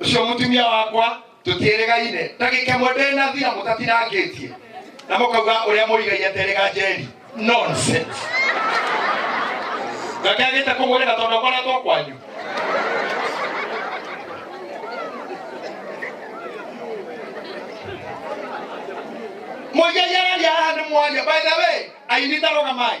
ucio mutumia wakwa tutiregaine ndagika mwe ndena thira mutatinangitie na mukauga uria murigaire aterega njeri nonsense ngake agite kumurega tondu akoretwo kwanyu muigegereria haha ni mwanya by the way ainitaroga mai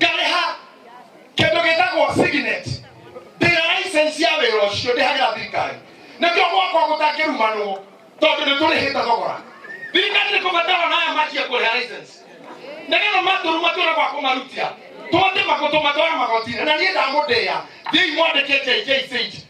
ngarĩha kĩndũ gĩtagwo signet ndĩra license ya wĩra ũcio ndĩhagĩra thirikari nĩkĩo gwakwa gũtangĩrumanwo tondũ nĩ tũrĩhĩte thogora thirikari nĩ kũbatara naya makie kũrĩha license nĩgetha matũru matwĩra gwa kũmarutia twatĩ magũtũ matwara magotinĩ na niĩ ndamũndĩya thiĩi mwandĩke jjc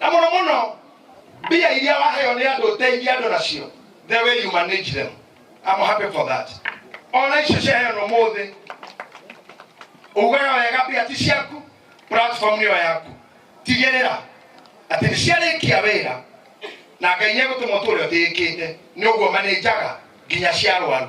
na muno muno mbia iria waheo ni andu uteithie andu nacio the way you manage them I'm happy for that ona icio ciaheo no muthi ugaga wega mbia ti ciaku platform niyo yaku tigirira ati ni ciarikia wira na ngai ni egutuma utu uria utiikite ni uguo manenjaga nginya cia arwaru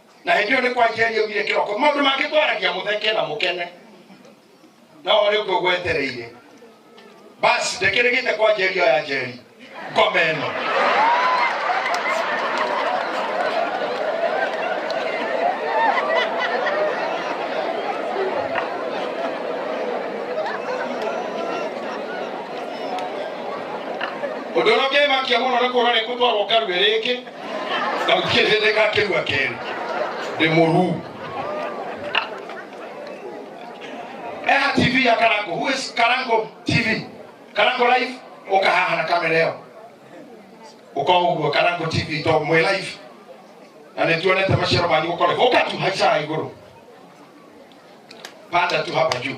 na hĩndĩ ĩyo nĩ kwanjia ariaugire kĩroko maũndũ mangĩ twaragia mũtheke na mũkene no rĩu ngũgũ etereire basi ndĩkĩrĩgĩte kwa njeri ĩyo ya njeri ngoma ĩno ũndũ ũrĩa ũngĩmakia mũno nĩ kuona nĩ kũtwarwo karuĩ rĩngĩ Gaukie thĩ nĩgakĩgua kerĩ ndĩ mũruu Eha TV ya Karango. Who is Karango TV? Karango Live uka haha na kamera ĩyo. Uka ũguo Karango TV to mwĩ live. Na nĩ tuonete maciaro manyu gũkore. Uka tu haica igũrũ. Panda tu hapa juu.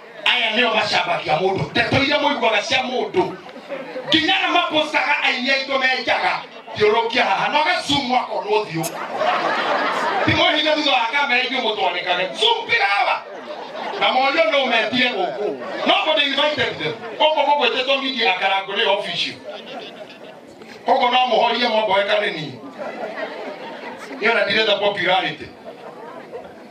aya nĩo macambagia mũndũ ndeto iria mũiguaga cia mũndũ nginya na mapostaga aini aitũ menjaga thiũrũkia haha na ũgacumwo akonwo thiũ timũhinga thutha wa kamera ithuĩ mũtwanĩkage cumbĩra hawa na morio no metire gũkũ no but they invited them gũkũ gũgwĩtĩtwo media akarango nĩ official koguo no mũhorie mwamboeka nĩ niĩ nĩona ndirenda popularity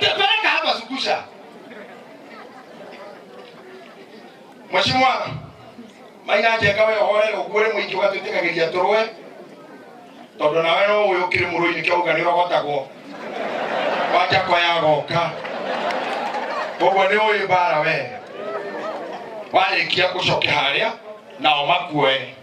Peleka hapa zungusha. Mheshimiwa Maina Njenga we hoere ũguũre mũingĩ ũgatwĩtĩkagĩria tũrũe tondũ nawe no ũyũ ũkĩrĩ mũrũi nĩkĩo uga nĩũrogotagwo wanjako yagoka koguo nĩ ũyũ mbara we warĩkia ũcoke harĩa nao makuoe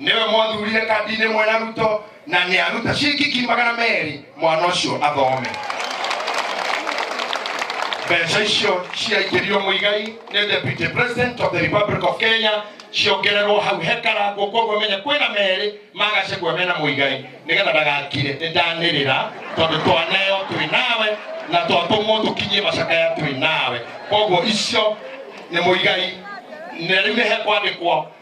nĩwe mwathurire kambinĩ mwe na ruto na nĩ aruta ciringi ngiri magana merĩ mwana ũcio athome mbeca icio ciaingĩrio mũigai nĩ deputy president of the republic of kenya ciongererwo hau hekarangwo koguo menye kwĩna merĩ magacegua mena mũigai nĩgetha ndagakire nĩ ndanĩrĩra tondũ twaneo twĩ nawe na twatũmwo tũkinyie macakaya twĩ nawe koguo icio nĩ mũigai na rĩu nĩ hekwandĩkwo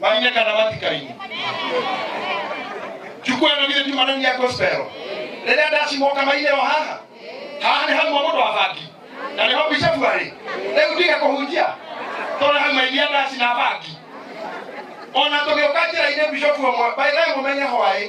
Maria kana matikaini. Chukua na vile tu manani ya gospel. Rĩrĩa ndacimwoka maire o haha haha nĩ hamwe mũndũ abangi na nĩho bicabu arĩ rĩu tiga kũhunjia tondũ hau mairia ndaci na bangi ona tũgĩũka njĩra-inĩ bicabu ũmwe baithaĩ mũmenye hwaĩ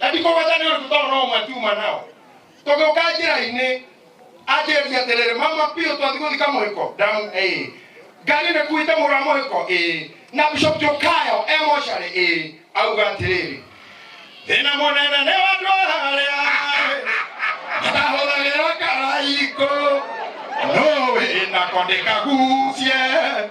na ndikũgweta nĩ ũndũ tondũ no mwatiuma nao tũgĩũka njĩra-inĩ anjĩrĩria atĩrĩrĩ mama biũ twathi gũthika mũhĩko ndamu ĩĩ ngari nĩ kuite mũrũ wa mũhĩko ĩĩ na bishop jũkayo e mocarĩ ĩĩ auga atĩrĩrĩ thĩna mũnene nĩ wandũ harĩa matahũthagĩra karaiko no wĩna kondĩkagucie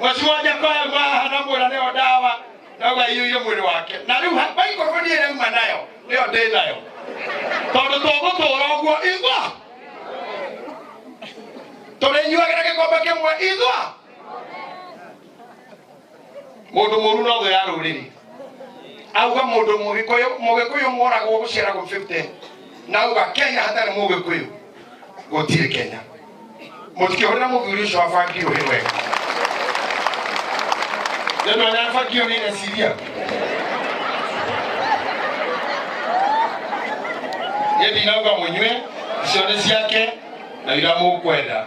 ũcio wa nyakoya mwaha na mwĩra nĩyo ndawa nauga iyũire mwĩrĩ wake na rĩu ha- baikũrũbũ niĩ ĩrauma nayo nĩyo ndĩ nayo tondũ tũgũtũra ũguo igwa tũrĩnyuagĩra gĩkombe kĩmwe igwa mundu muru no thu ya ruriri auga mundu mugikuyu mugikuyu moragwo gucera gu 50 na auga kenya hatari mugikuyu gutiri kenya mutikihurira muthuri ucio abangirwo ni wega ndio anafagio ni nasiria yedi nauga munywe cione ciake na ira mukwenda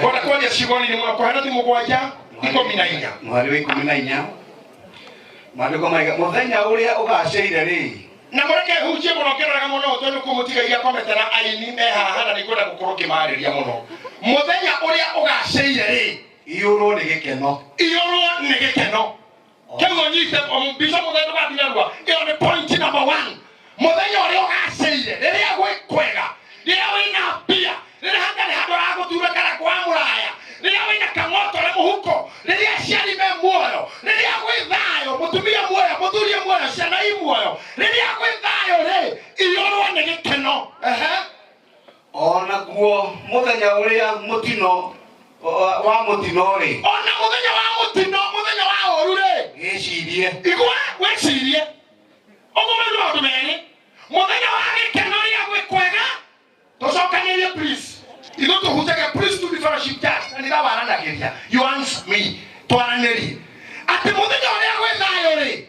kona kwaria ciugo-inĩ mũno kwahana ti mũgwanja ikũmi na inya mweri wa ikũmi na inya maandĩko maiga mũthenya ũrĩa ũgacĩire rĩ na mũreke hunjie mũno ngĩroraga mũno tondũ kũmũtigagia komete na aini me haha na nĩngwenda gũkorwo ngĩmarĩria mũno mũthenya ũrĩa ũgacĩire rĩ iyũrwo nĩ gĩkeno iyũrwo nĩ gĩkeno kĩguo nyise bico mũthenya ũgathirarua ĩyo nĩ point number one mũthenya ũrĩa ũgacĩire rĩrĩa gwĩ kwega rĩrĩa wĩna mbia rĩrĩa hatarĩ handũ aragũthura kana kwa mũraya rĩrĩa wĩna kang'otore mũhuko rĩrĩa aciari me muoyo rĩrĩa gwĩ thayũ mũtumia muoyo mũthurie muoyo ciana i muoyo rĩrĩa gwĩ thayũ rĩ iyũrwo nĩ gĩkeno Ehe. onaguo mũthenya ũrĩa mũtino wa- wa mũtino-rĩ ona muthenya wa mutino muthenya wa horu ri gĩcirie igwa wicirie uguo nĩ maundu meri muthenya wa gikeno ria gwi kwega tucokanirie please ithu tuhunjage please to be fellowship church na nitha waranagiria you answer me twaranirie ati muthenya uria gwi thayo ri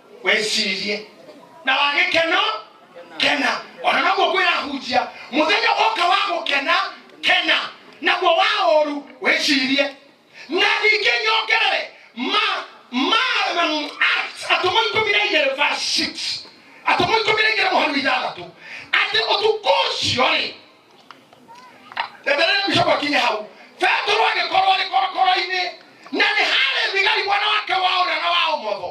wĩcirie na wagĩkeno kena ona naguo kwĩrahunjia mũthenya woka wa gũkena kena naguo wa ũru wĩcirie na ningĩ nyongerere ma ma mm, Acts, atũmwo ikũmi na igĩrĩ verse 6 atũmwo ikũmi na igĩrĩ mũhari wa ithathatũ atĩ ũtukũ ũcio rĩ endelee kushoka kinye hau petero agĩkorwo arĩ korokoro-inĩ na nĩ harĩ thigari mwena wake wa ũrĩa na wa ũmotho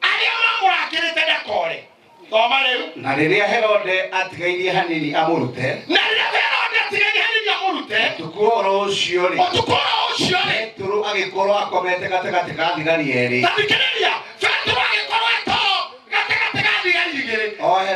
arĩa mamũrangĩrĩte ndakore thoma rĩu na rĩrĩa herode atigairie hanini amũrute na rĩrĩa herode atigani hanini amũrute ũtukũ wa ũhoro ũcio rĩ ũtukũ wa ũcio rĩ petero agĩkorwo akomete gatagatĩ ka thigari erĩ na thikĩrĩria petero agĩkorwo eto gatagatĩ ga thigari igĩrĩ ohe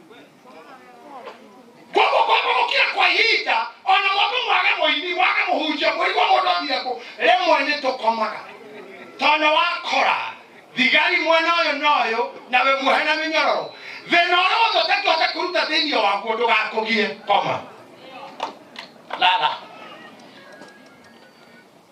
koguo kwambũrũkia kwa ihinda ona mũndũ mwage mũini mwage mũhunjia mũigua mũndũ athire kũ rĩmwe nĩ tũkomaga tondũ wakora thigari mwena ũyũ na ũyũ na we muohe na mĩnyororo thĩna ũrĩa wothe ũtangĩhota kũruta thĩinĩ waguo ndũgakũgie koma lala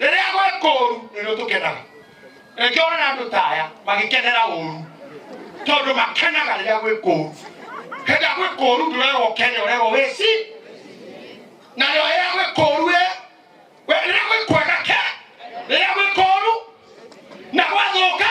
rĩrĩa gwĩ kũũru nĩrĩo tũkenaga rĩngĩ ona andũ taya magĩkenera ũũru tondũ makenaga rĩrĩa gwĩ kũũru hĩndĩ gwĩ kũũru ndũrerwo ũkene ũrerwo wĩci na rĩo rĩrĩa gwĩ kũũru ĩ we- rĩrĩa gwĩ kwega ke rĩrĩa gwĩ kũũru na gwathũka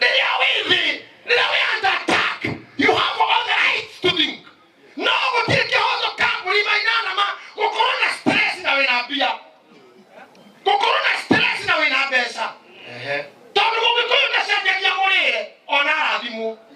Niliyo withi, niliyo under attack. You have all the rights to think. No gũtirĩ kĩhoto ka mũrima inanama gũkorwo na stress na wĩna mbia. Gũkorwo na stress na wĩna mbeca. Tondũ mũgĩkũyũ ndacenjagia mũrĩre ona arathimwo.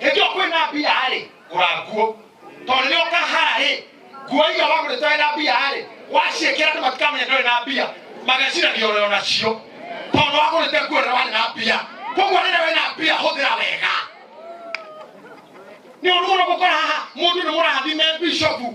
hĩndĩ ĩyo kwĩna mbia rĩ ũranguo tondũ rĩrĩa ũkahara rĩ nguo iria wagũrĩte wĩ na mbia rĩ waciĩkĩra andũ matikamenya ndũrĩ na mbia mageciragia ũrĩ o nacio tondũ wagũrĩte nguo rĩrĩa warĩ na mbia koguo rĩrĩa wĩ na mbia hũthĩra wega nä å rå gå kora haha må ndå nä må rathime bishopu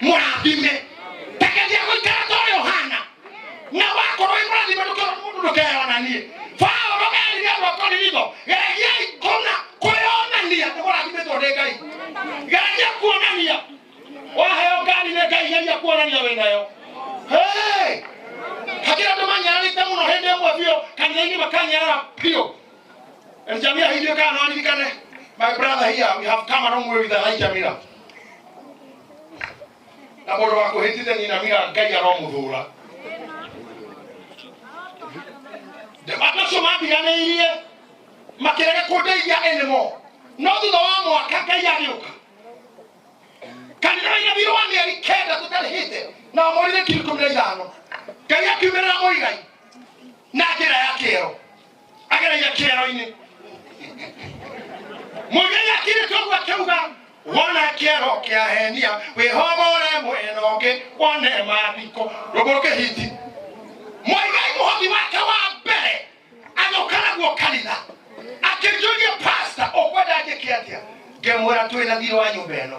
mũrathime tageria gũikara to yohana na wakorwo wĩ mũrathime ndũkĩona mũndũ ndũkeyonanie paũlo erire andũ akorinitho geragiai kũna kwĩyonania nĩ mũrathimitwo nĩ ngai geragia kuonania waheo ngani nĩ ngai geria kuonania wĩ nayo Hey! hakira andå manyararä te må no hä ndä ä mwe biå kanitha-inä makanyarara biå And Jamila, he did kind of money, My brother here, we have come a long way with Elijah Jamila. Na bodo wa kuhitite ni na mira ngai ya romu dhura. The battle so ma biya na irie. Makirega kode ya enemo. No thutha wa mwaka ngai agĩũka. Kanitha ina biro wa mĩeri kenda tũtarĩhĩte na wamũrire kiri kũmĩra ithano. Ngai akiumĩrĩra mũigai na njĩra ya kĩero. agereire kĩero-inĩ mũthenya kirito ũguo akĩuga wona kĩero kĩa henia wĩhomore mwena ũngĩ wone mathiko rũgũrũ kĩhiti mwaigai mũhothi wake wa mbere agĩũka naguo kanitha akĩnjũria pasta ũkwenda njĩke atĩa ngĩmwĩra twĩna thiirĩ wa nyũmba ĩno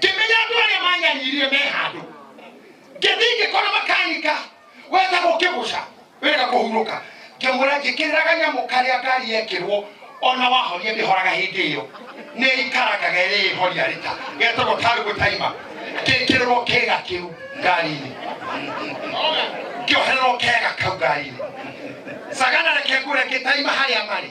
ngĩmenya andũ arĩa manyaririe me handũ ngĩthiĩ ngĩkora makanika wenda gũkĩgũca wenda kũhurũka ngĩmwĩra njĩkĩrĩra kanyamũ karĩa ngari yekĩrwo ona wahoria ndĩhoraga hĩndĩ ĩyo nĩ ikarakaga ĩrĩ ĩhoria rĩta getagwo tarugũ taima ngĩkĩrĩrwo kega kĩu ngari-inĩ ngĩohererwo kega kau ngari-inĩ sagana reke ngũre ngĩtaima harĩa marĩ